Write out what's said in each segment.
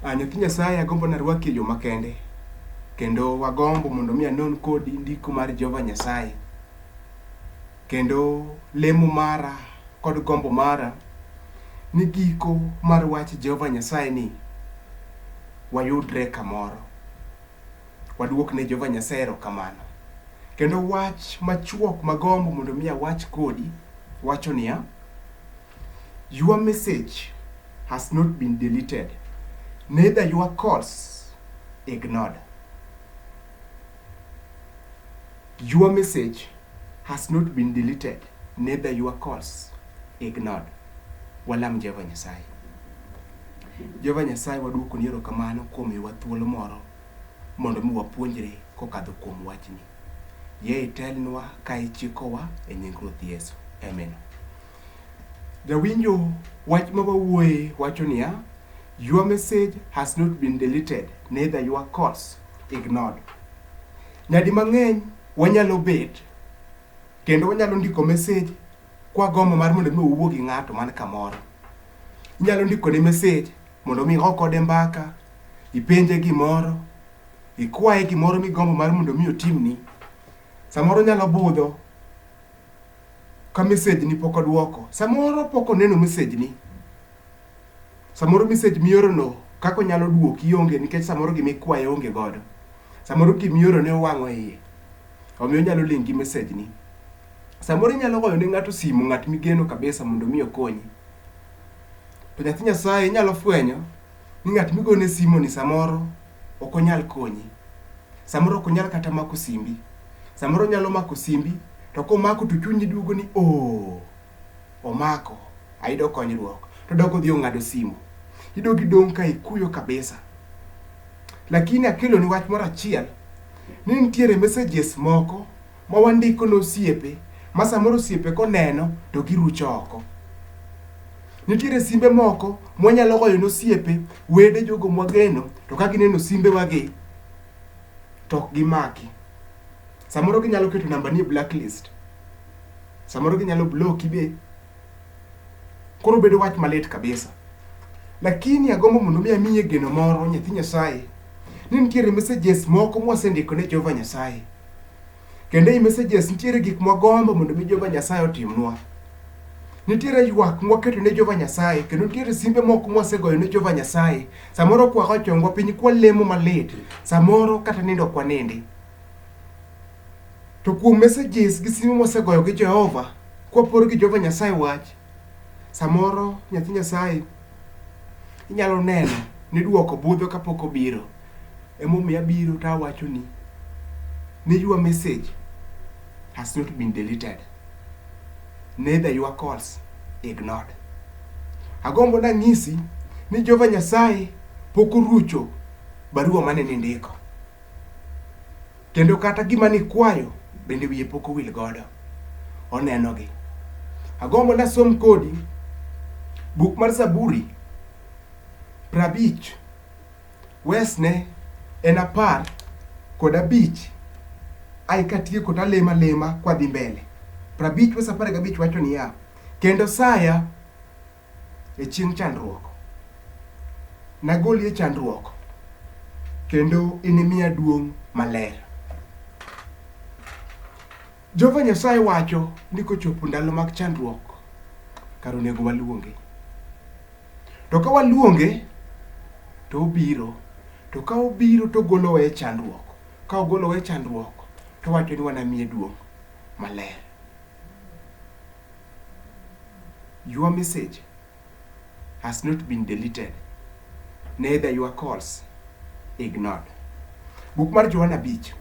Ah, nyathi Nyasaye agombo narwaki e yo makende kendo wagombo mondo mi anon kodi ndiko mar Jehova Nyasaye kendo lemo mara kod gombo mara ni giko mar wach Jehova Nyasaye ni wayudre kamoro waduok ne Jehova Nyasaye erokamano kendo wach machuok magombo mondo mi awach kodi wacho niya Your message has not been deleted, neither your calls ignored. Your message has not been deleted, neither your calls ignored. Walam Jehova Nyasaye. Jehova Nyasaye waduoko ni erokamano kuom miwa thuolo moro mondo mi wapuonjre kokadho kuom wachni. Yie itelnwa ka ichikowa e nying Ruoth Yesu. Amen. Jawinjo, wach ma wawuoye wacho niya, Your message has not been deleted, neither your calls ignored. Nyadi mang'eny wanyalo bet kendo wanyalo ndiko message kwa gombo mar mondo mi owuo gi ng'ato man kamoro. Inyalo ndiko ne message mondo mi igo kode mbaka, ipenje gimoro, ikwaye gimoro migombo mar mondo mi otimni. Samoro nyalo budho ka message ni pok odwoko samoro pok oneno message ni samoro message miorono kaka onyalo duoki onge nikech samoro gima ikwaye onge godo samoro gima iorone owang'o iye omiyo onyalo ling' gi message ni samoro inyalo goyo ne ng'ato simu ng'at migeno kabisa mondo mi okonyi to nyathi nyasaye inyalo fwenyo ni ng'at migone simoni samoro ok onyal konyi. Samoro ok onyal kata mako simbi. Samoro onyalo mako simbi to komako to chunyi duogo ni oh, omako, ayudo konyruok. To dok odhi ong'ado simu. Idogi dong' ka ikuyo kabisa. Lakini akeloni wach moro achiel ni nitiere messages moko ma wandiko ne osiepe ma samoro osiepe koneno to girucho oko. Nitiere simbe moko mwanyalo goyo ne osiepe, wede, jogo mwageno to ka gineno simbewagi to ok gimaki. Samoro ginyalo keto nambani e blacklist, samoro ginyalo bloki be. Koro bedo wach malit kabisa. Lakini agombo mondo mi amiye geno moro nyathi Nyasaye ni nitiere messages moko mwasendiko ne Jehova Nyasaye. Kendo ei messages nitiere gik mwagombo mondo mi Jehova Nyasaye otimnwa. Nitiere ywak mwaketo ne Jehova Nyasaye kendo nitiere simbe moko mwasegoyo ne Jehova Nyasaye. Samoro kwa ochongwa piny kwalemo malit, samoro kata nindo kwanindi. To kuom messages gi sime mwasegoyo gi Jehova, kwapor gi Jehova Nyasaye wach, samoro nyathi Nyasaye inyalo neno ni dwoko budho kapok obiro. Emomiyo abiro to awachoni ni your message has not been deleted. Neither your calls ignored. Agombo nang'isi ni Jehova Nyasaye pok orucho barua mane nindiko. Kendo kata gima nikwayo bende wiye pok owil godo, onenogi. Agombo nasom kodi buk mar Zaburi prabich wesne en apar kod abich ai katieko to alemo alema kwadhi mbele. Prabich wes apar gabich wacho niya, kendo saya e chieng' chandruok. Nagoli e chandruok kendo inimiya duong' maler. Jehova Nyasaye wacho ni kochopo ndalo mag chandruok, kar onego waluonge. To ka waluonge, to obiro. To ka obiro to ogolowa e chandruok. Ka ogolowa e chandruok, to owacho ni wanamiye duong' maler. Your message has not been deleted, neither your calls ignored. Buk mar Johana Beach,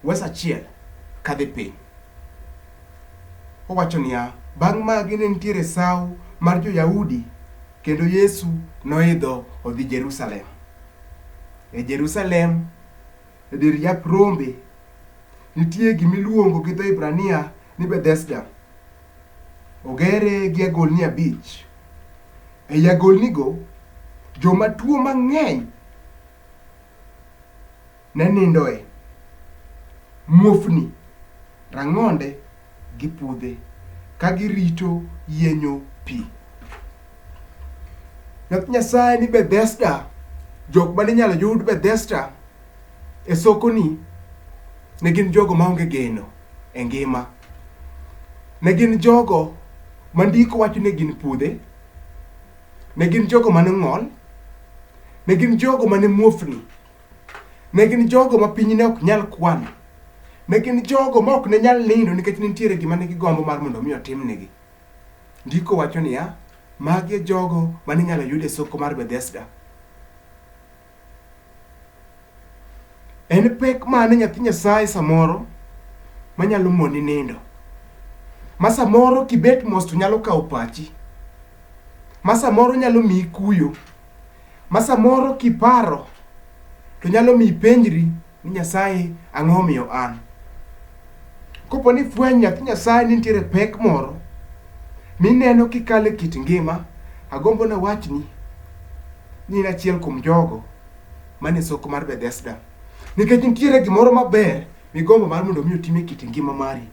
wes achiel kadhi piny. Owacho niya, bang' magi ne nitiere sawo mar jo-Yahudi kendo Yesu noidho odhi Jerusalem. E Jerusalem e dir yap rombe, nitie gima iluongo gi dho Hibrania ni Bethesda. Ogere gi agolni abich. Ei agolnigo, joma tuo mang'eny ne nindoe. Muofni, rang'onde, gi pudhe ka girito yienyo pi. Wach Nyasaye ni Bethesda, jok mane inyalo yud Bethesda e sokoni ne gin jogo maonge geno e ngima. Ne gin jogo ma ndiko wacho ni gin pudhe, ne gin jogo mane ng'ol, ne gin jogo mane muofni. Ne gin jogo ma piny ne ok nyal kwano. Ne gin jogo ma ok ne nyal nindo nikech ne nitiere gima ne gigombo mar mondo mi otimnegi. Ndiko wacho niya, magi e jogo ma ninyalo yud e soko mar Bethesda. En pek mane nyathi Nyasaye samoro manyalo moni nindo? Ma samoro kibet mos to nyalo kawo pachi. Ma samoro nyalo miyi kuyo. Ma samoro kiparo to nyalo mi ipenjri ni Nyasaye ang'o omiyo an? Kopo ni fweny nyathi Nyasaye ni nitiere pek moro mineno kikalo e kit ngima, agombo na wachni ni in achiel kuom jogo man e soko mar Bethesda. Nikech nitiere gimoro maber migombo mar mondo mi otim e kit ngima mari.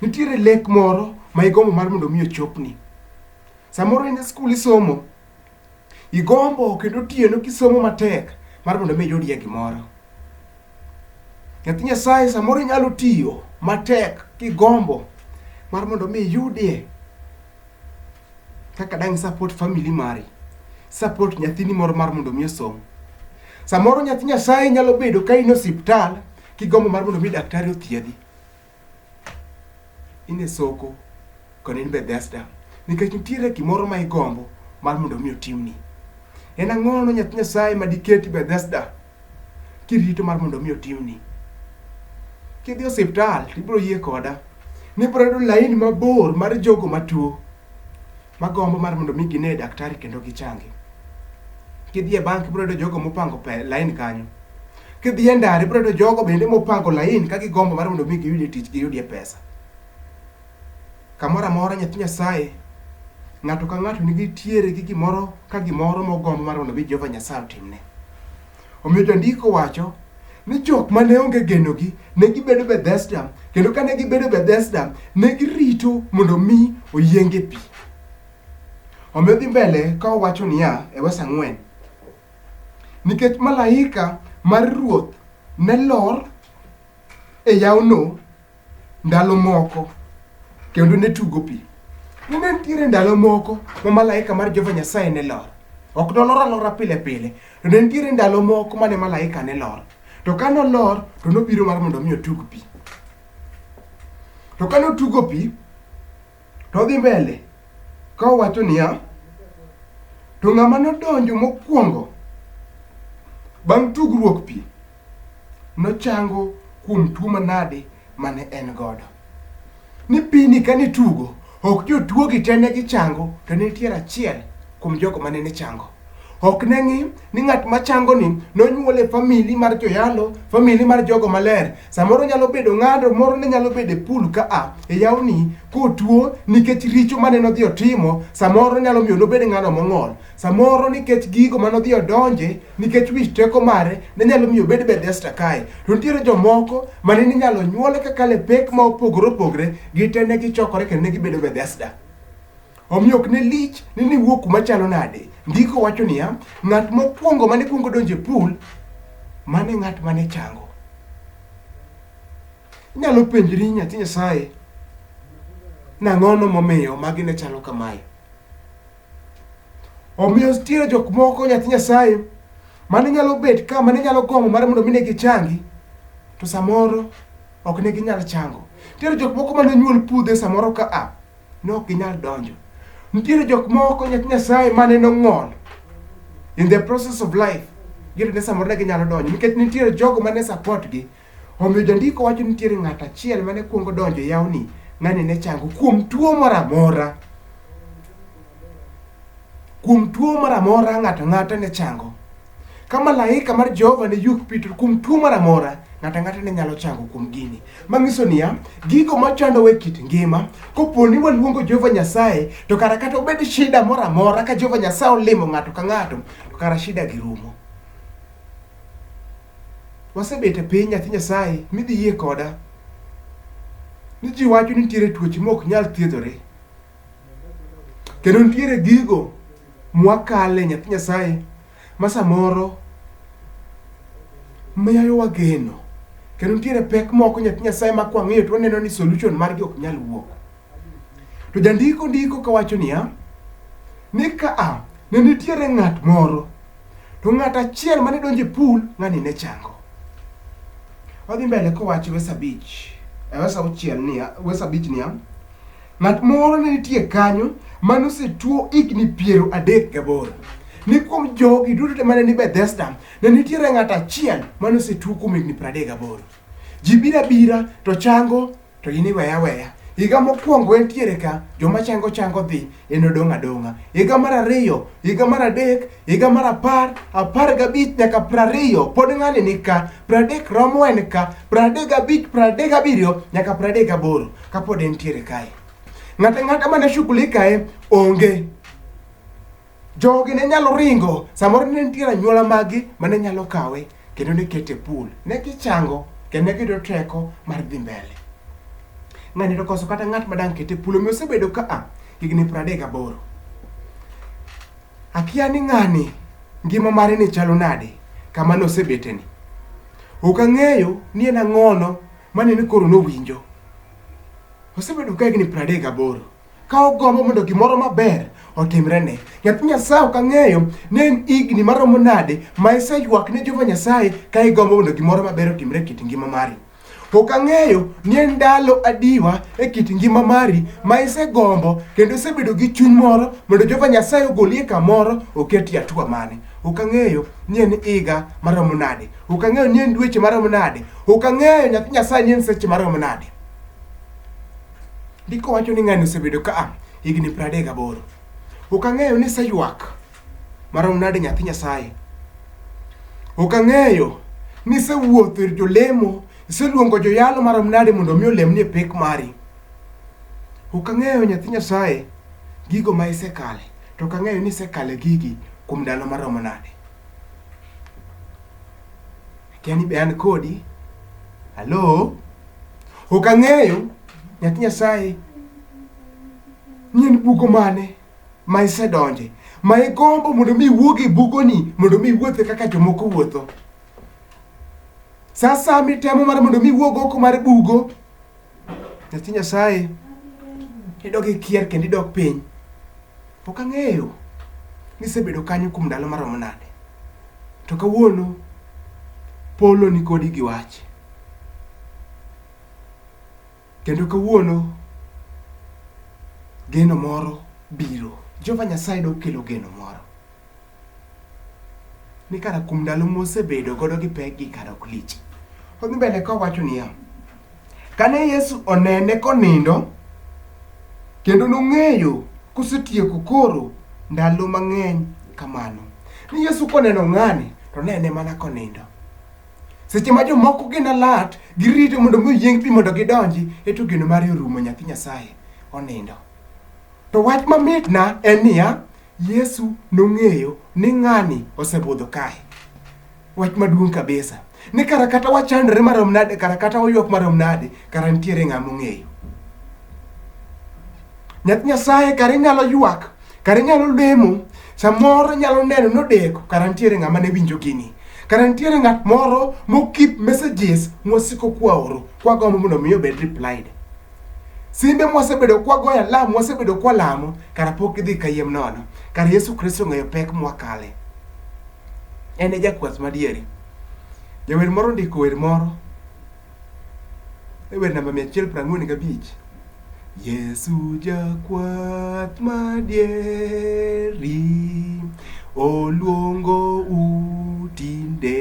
Nitiere lek moro ma igombo mar mondo mi ochopni. Samoro in e skul isomo, Igombo kendo otieno kisomo matek mar mondo mi iyudie gimoro. Nyathi Nyasaye samoro inyalo tiyo matek kigombo mar mondo mi iyudie kaka dang' support family mari, support nyathini moro mar mondo mi osom. Samoro nyathi Nyasaye nyalo bedo ka in e osiptal kigombo mar mondo mi daktari othiedhi. in e soko kendo in Bethesda nikech nitiere gimoro ma igombo mar mondo mi otimni. En ang'o no nyathi Nyasaye ma diketi Bethesda kirito mar mondo mi otimni? Kidhi osiptal to ibiro yie koda ni ibiro yudo laini mabor mar jogo matuo magombo mar mondo mi gine daktari kendo gichangi. Kidhi e bank ibiro yudo jogo mopango lain kanyo. Kidhi e ndara ibiro yudo jogo bende mopango lain ka gigombo mar mondo mi giyudie tich giyudie pesa. Kamoro amora nyathi Nyasaye ng'ato ka ng'ato nigi tiere gi gimoro ka gimoro mogombo mar mondo mi Jehova Nyasaye otimne. Omiyo jandiko wacho ni jok ma ne onge genogi ne gibedo Bethesda, kendo ka ne gibedo Bethesda, ne girito mondo mi oyienge pi. Omiyo dhi mbele ka owacho niya e wes ang'wen, nikech malaika mar Ruoth ne lor e yawno ndalo moko kendo ne tugo pi. Nene nitiere ndalo moko ma malaika mar Jehova Nyasaye ne lor. Ok nolor alora pile pile, to ne nitiere ndalo moko mane malaika ne lor. To ka nolor, to nobiro mar mondo mi otug pi. To ka notugo pi, to odhi mbele ka owacho niya, to ng'ama nodonjo mokwongo bang' tugruok pi, nochango kuom tuo manade mane en godo. Ni pini ka nitugo, ok jotuogi te ne gichango, to ne nitiere achiel kuom jogo mane ne chango. Ok ne ng'i ni ng'at machango ni nonyuol e famili mar joyalo, famili mar jogo maler. Samoro nyalo bedo ng'ado moro ne nyalo bedo e pool ka a e yawni kotuo nikech richo mane nodhi otimo, samoro nyalo miyo nobed ng'ano mong'ol. Samoro nikech gigo mane odhi odonje, nikech wich teko mare, ne nyalo miyo obed Bethesda kae. To nitiere jomoko mane ninyalo nyuole kaka le pek ma opogore opogore, gite ne gichokore kendo ne gibedo Bethesda. Omiyo ok ne lich ni niwuo kuma chalo nade. Ndiko wacho niya, ng'at mokwongo mane kwongo donjo e pool, mane ng'at mane chango. Inyalo penjri nyathi Nyasaye, nang'ono momiyo magi ne chalo kamae? Omiyo nitiere jok moko nyathi Nyasaye mane nyalo bet ka mane nyalo gombo mar mondo mine gichangi to samoro ok ne ginyal chango. Nitiere jok moko mane nyuol pudhe samoro ka a ne ok ginyal donjo. Nitiere jok moko nyathi Nyasaye mane nong'ol in the process of life gin ne samoro ne ginyalo donjo nikech nitiere jogo mane support gi Omiyo jandiko wacho ni nitiere ng'at achiel mane kuongo donjo e yawni, ng'ani ne chango kuom tuo moro amora. Kuom tuo moro amora ng'ato ang'ata ne chango. Ka malaika mar Jehova ne yuk Petro kuom tuo moro amora, ng'ato ang'ata ne nyalo chango kuom gini. Mang'iso niya, gigo machandowa e kit ngima, kopo ni waluongo Jehova Nyasaye, to kara kata obed shida moro amora ka Jehova Nyasaye olimo ng'ato ka ng'ato, to kara shida gi rumo. Wasebet e piny nyathi Nyasaye midhi yie koda ni ji wacho ni nitiere tuoche ma ok nyal thiedhore. Kendo nitiere gigo mwakale nyathi Nyasaye ma samoro miyo wageno. Kendo nitiere pek moko nyathi Nyasaye ma kwang'iyo to waneno ni solution margi ok nyal wuok. To jandiko ndiko kawacho niya, ni ka a ne nitiere ng'at moro, to ng'at achiel mane donjo e pool, ng'ani ne chango. Wadhi mbele kowacho wes abich, e wes auchiel niya, wes abich niya, ng'at moro ne nitie kanyo mane osetuo higni piero adek gaboro. Ni kuom jogi duto te mane ni Bethesda, ne nitiere ng'at achiel mane osetuo kuom higni piero adek gaboro. Ji biro abira to chango to in iweye aweya. Higa mokwongo entiere ka, joma chango chango dhi, en odong' adong'a. Higa mar ariyo, higa mar adek, higa mar apar, apar gabich nyaka prariyo, pod ng'ani ni ka, pradek romo en ka, pradek gabich, pradek gabiriyo, nyaka pradek gaboro, kapod entiere kae. Ng'ata ng'ata mane shughulikae, onge. Jogi ne nyalo ringo, samoro ne nitie anyuola magi mane nyalo kawe kendo ne kete pool. Ne gichango kendo ne giyudo teko mar dhi mbele. Ng'ani to koso kata ng'at madang' kete pool omiyo osebedo ka a higni pradek gaboro. Akia ni ng'ani ngima mare ni chalo nade kama nosebeteni. Ok ang'eyo ni en ang'ono mane ni koro nowinjo. Osebedo ka higni pradek gaboro. ka ogombo mondo gimoro maber otimrene. Nyathi Nyasaye ok ang'eyo ni en higni maromo nade ma iseywak ne Jehova Nyasaye ka igombo mondo gimoro maber otimre e kit ngima mari. Ok ang'eyo ni en ndalo adiwa e kit ngima mari ma isegombo kendo isebedo gi chuny moro mondo Jehova Nyasaye ogolie kamoro oketi atua mane. Ok ang'eyo ni en higa maromo nade. Ok ang'eyo ni en dweche maromo nade. Ok ang'eyo nyathi Nyasaye ni en seche maromo nade. Ndiko wacho ni ng'ani osebedo ka a higni pradek gaboro. Ok ang'eyo ni iseywak marom nade nyathi Nyasaye. Ok ang'eyo ni isewuotho ir jolemo, iseluongo joyalo marom nade mondo omi olemni e pek mari. Ok ang'eyo nyathi Nyasaye gigo ma isekale, to ok ang'eyo ni isekale gigi kuom ndalo maromo nade. Akia ni be an kodi. Halo? Ok ang'eyo nyathi Nyasaye ni en bugo mane ma isedonje ma igombo mondo mi iwuog e bugoni mondo mi iwuothe kaka jomoko wuotho. Sa asaya mitemo mar mondo mi iwuog oko mar bugo Nyathi Nyasaye idok ikier kendo idok piny. Pok ang'eyo ni isebedo kanyo kuom ndalo maromo nade. To kawuono polo ni kodi gi wach. Kendo kawuono geno moro biro. Jehova Nyasaye dok kelo geno moro. Ni kara kuom ndalo mosebedo godo gi pek gi kara ok lich. Odhi mbele kowacho niya. Kane Yesu onene konindo, kendo nong'eyo kosetieko koro ndalo mang'eny kamano. Ni Yesu koneno ng'ani, to nene mana konindo. Seche ma jomoko gin alat, girito mondo mi oyieng pi mondo gidonji, eto geno mare orumo nyathi Nyasaye onindo. To wach mamitna en niya, Yesu nong'eyo ni ng'ani osebudho kae. Wach maduong' kabisa ni kara kata wachandore marom nade, kara kata waywak marom nade, kara nitiere ng'a mong'eyo. Nyath Nyasaye kara inyalo ywak, kara inyalo lemo, samoro inyalo neno nodeko, kara nitiere ng'ama ne winjo gini. Kara nitiere ng'at moro mokip messages mwasiko kwaoro, kwagombo mondo mi obed replied. Simbe mwasebedo kwagoyo alam, mwasebedo kwalamo, kara pok gidhi kayiem nono. Kara Yesu Kristo ong'eyo pek mwakale. En e jakwath madieri. Jawer moro ndiko wer moro. E wer namba 145. Yesu jakwath madieri oluongo u tinde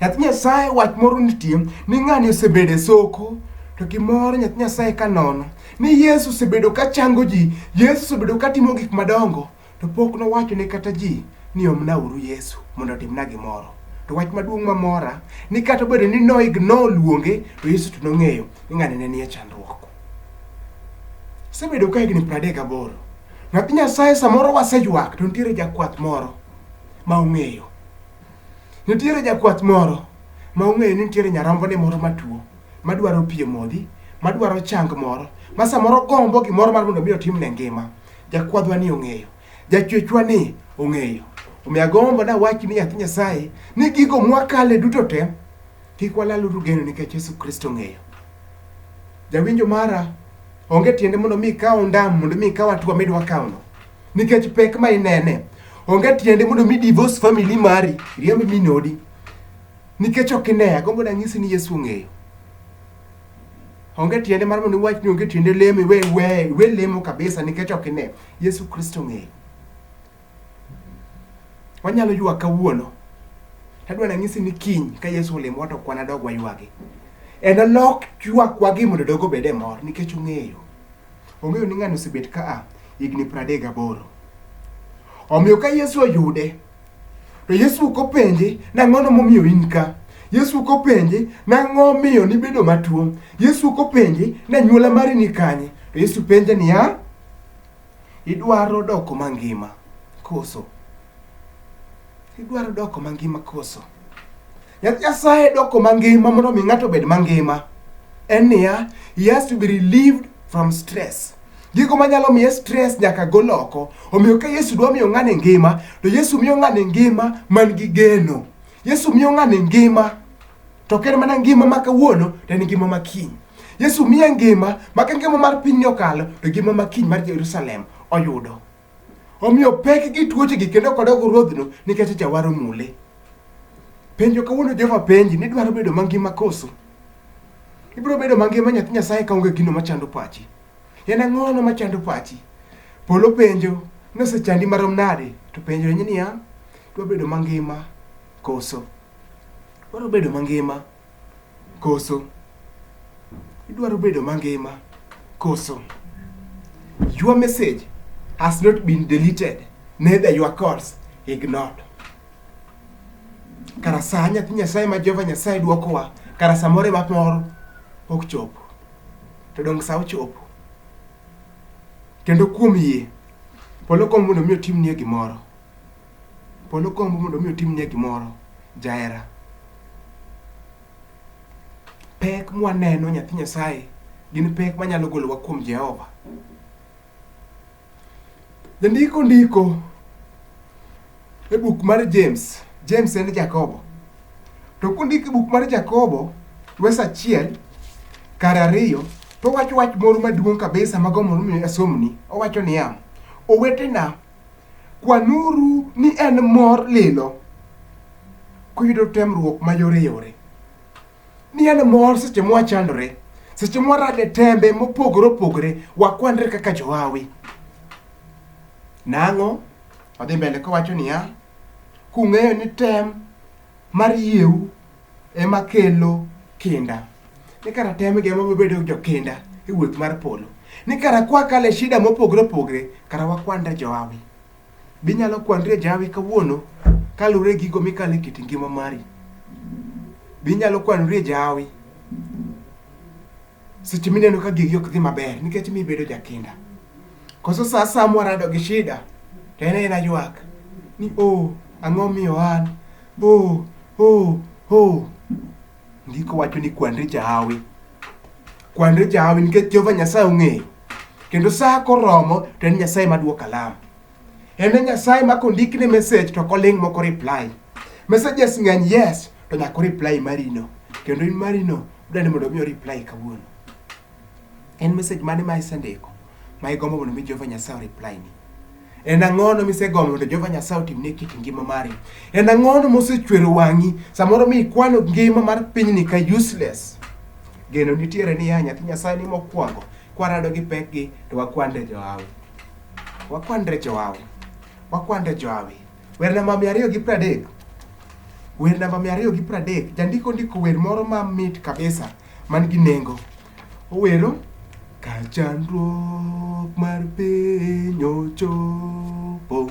Nyathi Nyasaye wach moro nitie ni ng'ani osebedo e soko to gimoro nyathi Nyasaye ka nono ni Yesu osebedo ka chango ji, Yesu osebedo ka timo gik madongo to pok nowacho ne kata ji ni omna uru Yesu mondo otimna gimoro. To wach maduong' mamora ni kata obedo ni no ignore luonge to Yesu to nong'eyo ni ng'ani ne nie chandruok. Osebedo ka higni 38. Nyathi Nyasaye samoro waseywak to nitiere jakwath moro ma ong'eyo Nitiere jakwath moro ma ong'eyo ni nitiere nyarombone moro matuo madwaro pi e modhi, madwaro chang moro, ma samoro gombo gimoro mar mondo mi otimne ngima. Jakwadhwa ni ong'eyo, jachwechwa ni ong'eyo. Omiyo agombo dawach ni nyathi Nyasaye ni gigo mwakale duto te kik walaluru geno nikech Yesu Kristo ong'eyo. Jawinjo mara, onge tiende mondo mi ikaw ondam mondo mi ikaw atua midwa kawno. nikech pek ma inene. Onge tiende mondo mi divorce family mari, riemb min odi. Nikech ok ine, agombo nanyisi ni Yesu ong'eyo. Onge tiende mar mondo iwach ni onge tiende lemo, iwe, iwe, iwe lemo kabisa nikech ok ine. Yesu Kristo ong'eyo. Wanyalo ywak kawuono. Tadwa nanyisi ni kiny ka Yesu olemo to kwana dog waywagi. En olok ywakwa gi mondo dogo bede mor nikech ong'eyo. Ong'eyo ni ng'ani osebet ka a higni pradek gaboro. Omiyo ka Yesu oyude, to Yesu ok openje nang'ono momiyo in ka. Yesu ok openje nang'o miyo nibedo matuo. Yesu ok openje nanyuola mari ni kanye. To Yesu penje niya, idwaro doko mangima koso? Idwaro doko mangima koso? Nyasaye doko mangima mondo mi ng'ato obed mangima en niya, he has to be relieved from stress. Gigo manyalo miye stress nyaka gol oko. Omiyo ka Yesu dwa miyo ng'ani ngima, to Yesu miyo ng'ani ngima man gi geno. Yesu miyo ng'ani ngima to ok en mana ngima ma kawuono to en ngima ma kiny. Yesu miye ngima ma ka ngima mar pinyni okalo to ngima ma kiny mar Jerusalem oyudo. Omiyo pek gi tuochegi kendo kodok ruodhno nikech jawar omule. Penjo kawuono Jehova penji ni idwaro bedo mangima koso? Ibiro bedo mangima nyathi Nyasaye kaonge gino machando pachi. En ang'ono machando pachi? Polo penjo ni osechandi marom nade? To penjo ni niya, idwa bedo mangima koso? Idwaro bedo mangima. Koso idwaro bedo mangima? Koso your message has not been deleted neither your calls ignored. Kara saa nyathi Nyasaye ma Jehova Nyasaye dwokowa, kara samoro ema moro ok chopo. To donge sa ochopo? Kendo kuom yie, polo kom mondo mi otimnie gimoro. Polo gombo mondo mi otimnie gimoro jahera. Pek mwaneno nyathi Nyasaye gin pek manyalo golowa kuom Jehova. Jandiko ndiko e buk mar James, James en Jakobo. To kundiko e buk mar Jakobo, wes achiel kar ariyo, to owacho wach moro maduong' kabisa mago mondo mi asomni. Owacho niya, owetena Kwanuru ni en mor lilo kuyudo temruok mayoreyore, ni en mor seche mwachandore, seche mwarade tembe mopogore opogore, wakwanre kaka johawi. Nang'o? Odhi mbele kowacho niya, kung'eyo ni tem mar yieu ema kelo kinda ni kara tem gi ema bedo jokinda e wuoth mar polo ni kara kwa kale shida mopogre opogre kara wakwanda joawi binyalo kwandre jawi kawuono kaluwre gigo mikale kit ngima mari binyalo kwanore jawi seche mineno ka gigi ok dhi maber nikech mi bedo jakinda koso sa asaya mwarado gi shida to en en aywak ni o oh, ang'o miyo an o oh, o oh, o oh. ndiko wacho ni kwanri jahawi kwanri jahawi nikech jehova nyasaye ong'eyo kendo sa koromo to en nyasaye maduoka lama En e Nyasaye ma kondik ne message to koling moko reply. Messages ng'eny yes to nyako reply marino. Kendo in marino dani mondo mi reply kawuono. En message mane ma isendiko ma igombo mondo mi Jehova Nyasaye reply ni? En ang'ono misegombo mondo Jehova Nyasaye otimne kit ngima mari? En ang'ono mosechwero wang'i samoro mi ikwano ngima mar pinyni ka useless? Geno nitiere ni ya nyathi Nyasaye ni mokwongo kwarado gi pekgi to wakwande johawi. Wakwandre jowawe. Wakwandre jowawe. Wer namba mia ariyo gi pradek. Wer namba mia ariyo gi pradek. Jandiko ndiko wer moro ma mit kabisa man gi nengo. Owero ka chandruok mar piny ochopo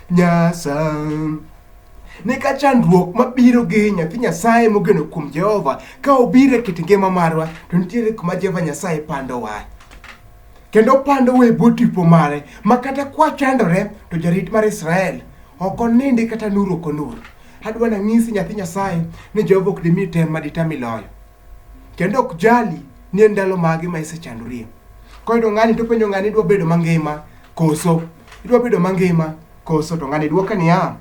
Nyasaye. Ne ka chandruok mabiro gi nyathi Nyasaye mogeno kuom Jehova ka obiro e kit ngima marwa to nitiere kuma Jehova Nyasaye pandowa kendo pandowa e bwo tipo mare ma kata kwachandore to jarit mar Israel ok onindi kata nur ok onur. Adwa nang'isi nyathi Nyasaye ni Jehova ok dimi tem ma ditam iloyo. kendo ok jali ni en ndalo mage ma isechandorie. Koyudo ng'ani to penjo ng'ani idwa bedo mangima koso idwa bedo mangima koso to ng'ani dwoke niya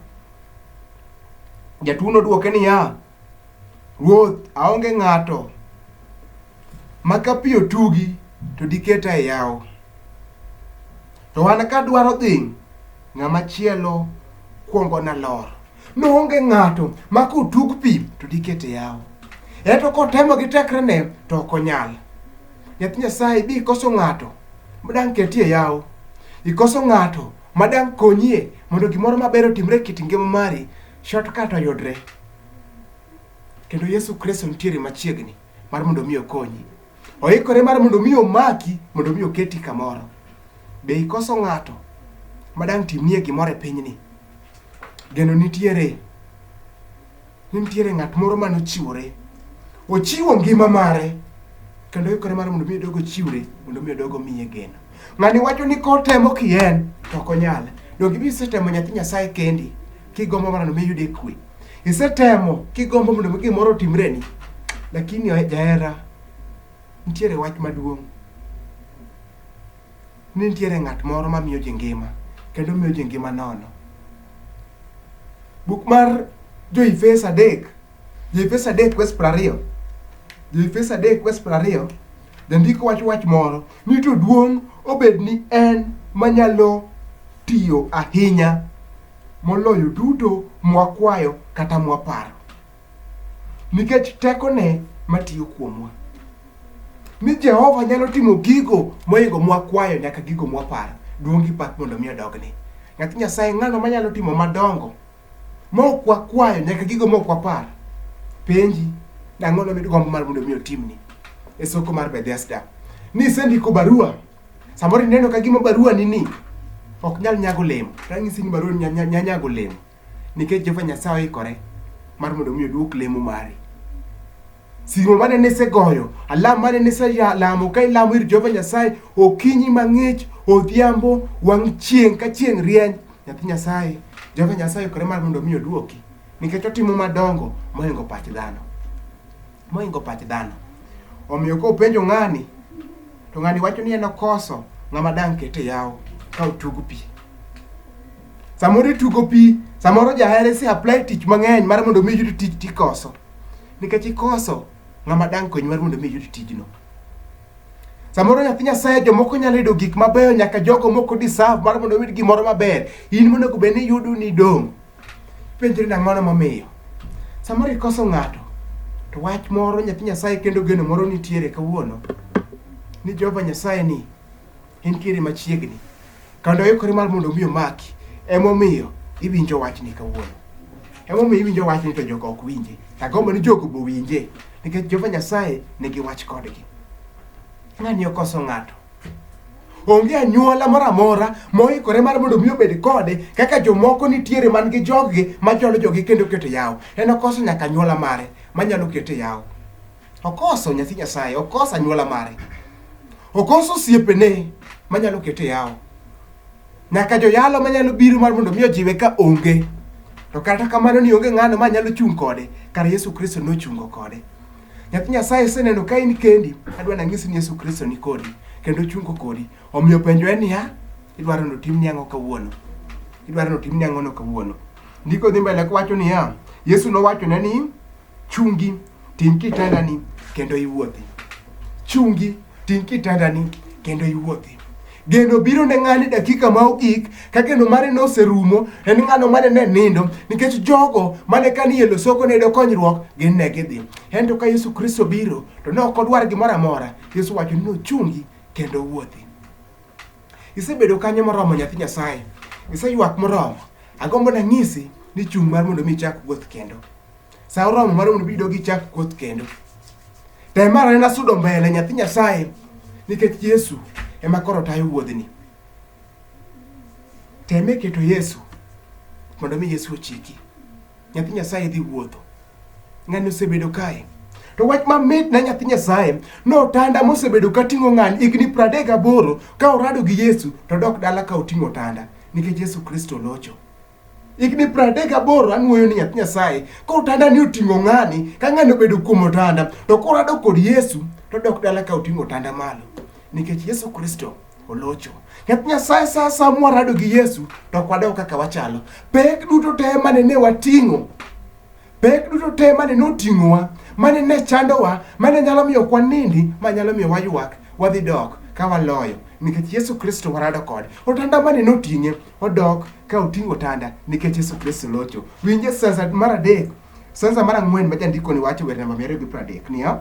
jatuono dwoke niya ruoth aonge ng'ato ma ka pi otugi to diketa e yawo to an kadwaro dhi ng'ama chielo kwongo nalor Noonge ng'ato ma kotug pi to dikete yawo. Eto kotemo gi tekrene to ok onyal. Nyathi Nyasaye bi ikoso ng'ato ma dang' ketie yawo. Ikoso ng'ato ma dang' konyie mondo gimoro maber otimre e kit ngima mari, shortcut oyudre. Kendo Yesu Kristo nitiere machiegni mar mondo mi okonyi. Oikore mar mondo mi omaki, mondo mi oketi kamoro. Be ikoso ng'ato ma dang' timnie gimoro e pinyni? Geno nitiere, ni nitiere ng'at moro mane ochiwore. Ochiwo ngima mare kendo oikore mar mondo mi odog ochiwre mondo mi odog omiye geno. Ng'ani wacho ni kotemo ki en to ok onyal. Donge ibi isetemo nyathi Nyasaye kendi kigombo mondo mi iyude kwe. Isetemo kigombo mondo mi gimoro otimreni. Lakini jahera nitiere wach maduong'. ni nitiere ng'at moro ma miyo ji ngima kendo miyo ji ngima nono. Buk mar Jo-Efeso adek, Jo-Efeso adek wes piero ariyo, Jo-Efeso adek wes piero ariyo, jandiko wacho wach moro ni to duong' obed ni en manyalo tiyo ahinya moloyo duto mwakwayo kata mwaparo. nikech tekone matiyo kuomwa. Ni Jehova nyalo timo gigo moingo mwakwayo nyaka gigo mwaparo. Duong' gi pak mondo mi odogne. Nyathi Nyasaye ng'ano manyalo timo madongo mok wakwayo nyaka gigo mok wapar. Penji dang'o no midgombo mar mondo mi otimni e soko mar Bethesda. Ni isendiko barua samoro ineno ka gima barua ni ni ok nyal nyago olemo. Ranyisi ni barua ni nya- nya- nya- nyago olemo. Nikech Jehova Nyasaye oikore mar mondo mi oduok lemo mari. Simo mane nisegoyo, alam mane niselamo ka ilamo ir Jehova Nyasaye okinyi mang'ich, odhiambo, wang' chieng' ka chieng' rieny, nyathi Nyasaye, Jehova Nyasaye oikore mar mondo mi oduoki nikech otimo madongo mohingo pach dhano. moingo pach dhano. Omiyo ka openjo ng'ani, to ng'ani wacho ni en okoso ng'ama dang' kete yawo ka otug pi. Samoro itugo pi, samoro jahere si apply tich mang'eny mar mondo mi iyud tich tikoso. Nikech ikoso ng'ama dang' konyi mar mondo mi iyud tijno. Samoro nyathi Nyasaye jomoko nyalo yudo gik mabeyo nyaka jogo moko deserve mar mondo oyud gimoro maber. In monego bed ni yudo ni idong'. Penjri ni ang'ono momiyo. Samoro ikoso ng'ato, to wach moro nyathi Nyasaye kendo geno moro nitiere kawuono ni Jehova Nyasaye ni entiere machiegni kendo oikore mar mondo omi omaki emomiyo iwinjo wachni kawuono emomiyo iwinjo wachni to jogo ok winje tagombo ni jogo bowinje nikech Jehova Nyasaye nigi wach kodgi ng'ani okoso ng'ato Onge anyuola moro amora moikore mar mondo mi obed kode kaka jomoko nitiere man gi joggi machwalo jogi kendo keto yawo. En okoso nyaka anyuola mare manyalo kete yawo. Okoso nyathi Nyasaye, okoso anyuola mare. Okoso osiepene manyalo kete yawo. Nyaka joyalo manyalo biro mar mondo mi ojiwe ka onge. To kata kamano ni onge ng'ano manyalo chung' kode, kar Yesu Kristo nochungo kode. Nyathi Nyasaye iseneno ka in kendi, adwa nang'isi ni Yesu Kristo ni kodi kendo ochungo kodi. Omiyo penjo en niya, idwaro ni otimni ang'o kawuono? Idwaro ni otimni ang'ono kawuono? Ndiko dhi mbele kowacho niya, Yesu nowachone ni, chungi, ting' kitandani kendo iwuothi. Chungi Ting' kitandani kendo iwuothi. Geno biro ne ng'ani dakika ma ogik ka geno mare noserumo en ng'ano mane ne nindo nikech jogo mane ka ni e losoko ne yudo konyruok gin ne gidhi. Ento ka Yesu Kristo biro to ne ok odwar gimoro amora. Yesu wacho ni nochungi kendo wuothi. Isebedo kanyo moromo nyathi Nyasaye. Iseywak moromo. Agombo nanyisi ni chung' mar mondo mi ichak wuoth kendo. Sa oromo mar mondo bido gichak kuoth kendo. Tem mar anena sudo mbele nyathi Nyasaye nikech Yesu ema koro tayo wuodhni. Teme keto Yesu mondo mi Yesu ochiki. Nyathi Nyasaye dhi wuotho. Ng'ani osebedo kae. To wach mamit na nyathi Nyasaye notanda mosebedo ka ting'o ng'ani higni pradek gaboro ka orado gi Yesu to dok dala ka oting'o otanda nikech Yesu Kristo locho. higni pradek aboro anwoyo ni nyathi nyasaye koro otanda ni oting'o ng'ani ka ng'ani obedo kuom otanda to koro adok kod yesu to dok dala ka oting'o otanda malo nikech yesu kristo olocho nyathi nyasaye sa sa mwarado gi yesu to ok wadok kaka wachalo pek duto te mane ne wating'o Pek duto te mane noting'owa, mane ne chandowa, mane nyalo miyo kwa nindi, ma nyalo miyo waywak, wadhi dok ka waloyo nikech Yesu Kristo warado kode. Otanda mane noting'e odok ka oting'o otanda nikech Yesu Kristo locho. Winje sanza mar adek, sanza mar ang'wen ma jandikoni wacho wer namba mia ariyo gi pradek niya,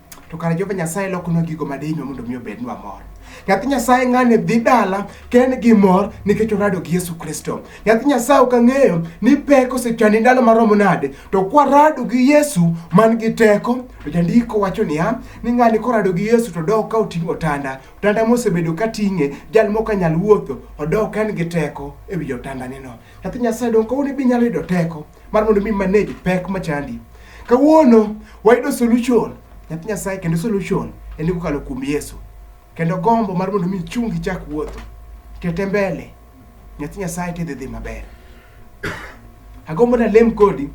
to kare Jehova Nyasaye lokonwa gigo ma dihinwa mondo mi obednwa mor. Nyathi Nyasaye ng'ani dhi dala ka en gi mor nikech orado gi Yesu Kristo. Nyathi Nyasaye ok ang'eyo ni pek osechandi ndalo maromo nade, to kwarado gi Yesu man gi teko, to jandiko wacho niya, ni ng'ani korado gi Yesu to dok ka oting'o otanda. Otanda mosebedo ka ting'e, jal mok anyal wuotho, odok ka en gi teko e wi otandaneno. Nyathi Nyasaye donge kawuono be inyalo yudo teko? mar mondo mi manage pek machandi. Kawuono wayudo solution nyathi Nyasaye kendo solution en kokalo kuom Yesu. Kendo gombo mar mondo mi chungi chak wuotho. Tete mbele nyathi Nyasaye tidhi dhi maber. Agombo na lem kodi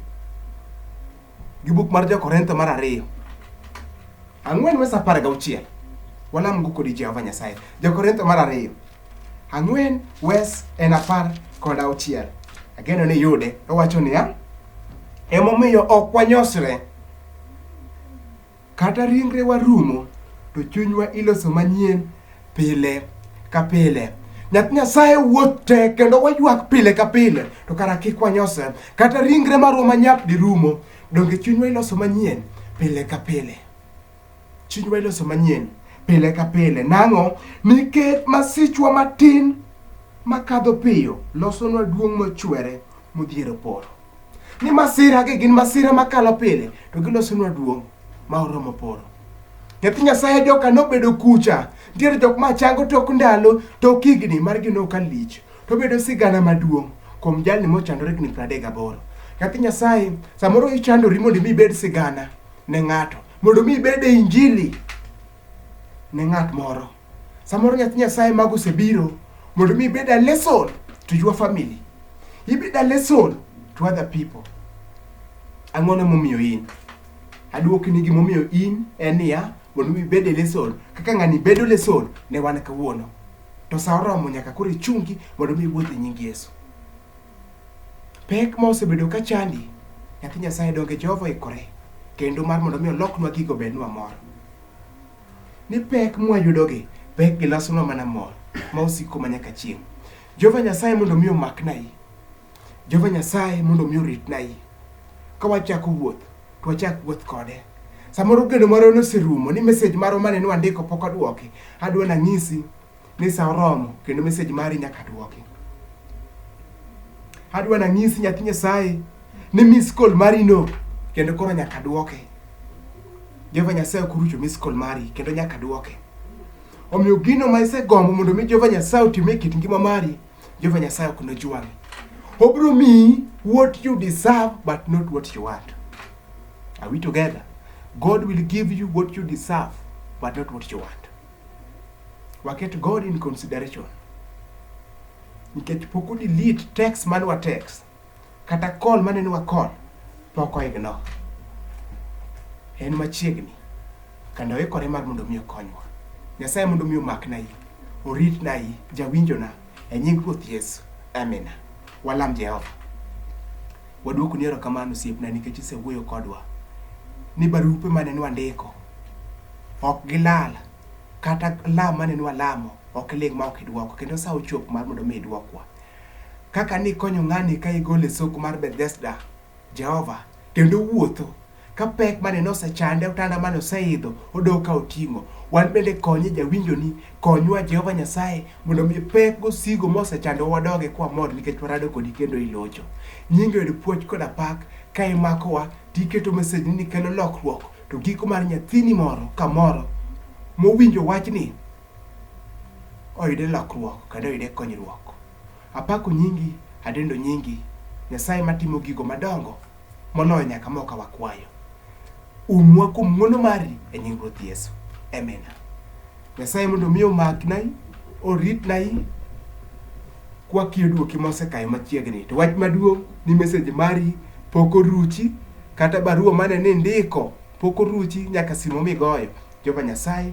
gi buk mar Jo-Korintho mar ariyo ang'wen wes apar gauchiel walamgo kodi Jehova Nyasaye. Jo-Korintho mar ariyo Ang'wen, Wes en apar kod auchiel. Ageno ni yude. Owacho niya, emomiyo ok wanyosre. Kata ringrewa rumo, to chunywa iloso manyien pile ka pile. Nyath Nyasaye wuoth te kendo waywak pile ka pile, to kara kik wanyosre. Kata ringre marwa manyap dirumo, donge chunywa iloso manyien pile ka pile. Chunywa iloso manyien pile ka pile. Nang'o? Nikech masichwa matin makadho piyo losonwa duong' mochwere modhiero polo. Ni masiragi gin masira makalo pile to gilosonwa duong' ma oromo polo. Nyathi Nyasaye joka nobedo kucha. Nitiere jok ma chango tok ndalo, tok higni margi noka lich. To obedo sigana maduong' kuom jalni mochandore higni 38. Nyathi Nyasaye, samoro ichandori mondo imi ibed sigana. ne ng'ato mondo mi ibed e injili ne ng'at moro samoro nyathi nyasaye mago osebiro mondo mi ibed a lesson to your family ibed a lesson to other people ang'o ne momiyo in aduoki ni gimomiyo in en niya mondo mi ibed e lesson kaka ng'ani bedo lesson ne wan kawuono to sa oromo nyaka koro ichungi mondo mi iwuoth e nying yesu Pek ma osebedo ka chandi, nyathi Nyasaye donge Jehova oikore kendo mar mondo mi oloknwa gigo bednwa mor. Ni pek mwayudogi, pek gilosonwa mana mor ma osiko ma nyaka chieng'. Jehova Nyasaye mondo mi omakna i. Jehova Nyasaye mondo mi oritna i. Ka wachako wuoth, to wachak wuoth kode. Samoro geno marwa noserumo ni message marwa mane nwandiko pok odwoki. Adwa nang'isi ni sa oromo kendo message mari nyaka duoki. Adwa nanyisi nyathi Nyasaye ni miss call mari no kendo koro nyaka duoke. Jehova Nyasaye ok orucho miss call mari kendo nyaka duoke. Omiyo gino ma isegombo mondo mi Jehova Nyasaye otim e kit ngima mari, Jehova Nyasaye ok nojwang'i. Obiro miyi what you deserve but not what you want. Are we together? God will give you what you deserve but not what you want. Waket God in consideration. Nikech pok delete text mane wa text kata call mane ni wa call pok oignore. En machiegni kendo oikore mar mondo mi okonywa. Nyasaye mondo mi omakna yi, oritna yi, jawinjona e nying Ruoth Yesu. Amina. Walam Jehova. Waduoku ni erokamano osiepna nikech isewuoyo kodwa ni barupe mane nwandiko ok gilal kata lam mane nwalamo ok iling ma ok idwoko kendo sa ochop mar mondo mi idwokwa kaka nikonyo ng'ani ka igole soko mar Bethesda Jehova kendo wuotho Ka pek mane nosechande, otanda mane oseidho, odok ka oting'o. Wan bende konye jawinjoni, konywa Jehova Nyasaye mondo mi pek gosigo mosechandowa wadoge kwamor nikech warado kodi kendo ilocho. Nyingi oyud puoch koda pak ka imakowa to iketo message ni kelo lokruok to giko mar nyathini moro kamoro mowinjo wachni oyude lokruok kendo oyude konyruok. Apako nyingi, adendo nyingi, Nyasaye matimo gigo madongo. Moloyo nyaka mo ka wakwayo. Umwa kuom ng'wono mari e nying Ruoth Yesu. Amina. Nyasaye mondo mi omaknai, oritnai, kwakiyo duoki mosekayo machiegni. To wach maduong' ni mesej mari pok oruchi, kata barua mane ni ndiko pok oruchi nyaka simo migoyo. Jehova Nyasaye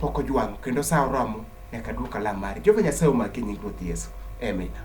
pok ojwang'o kendo sa oromo nyaka duok alam mari. Jehova Nyasaye omaki e nying Ruoth Yesu. Amina.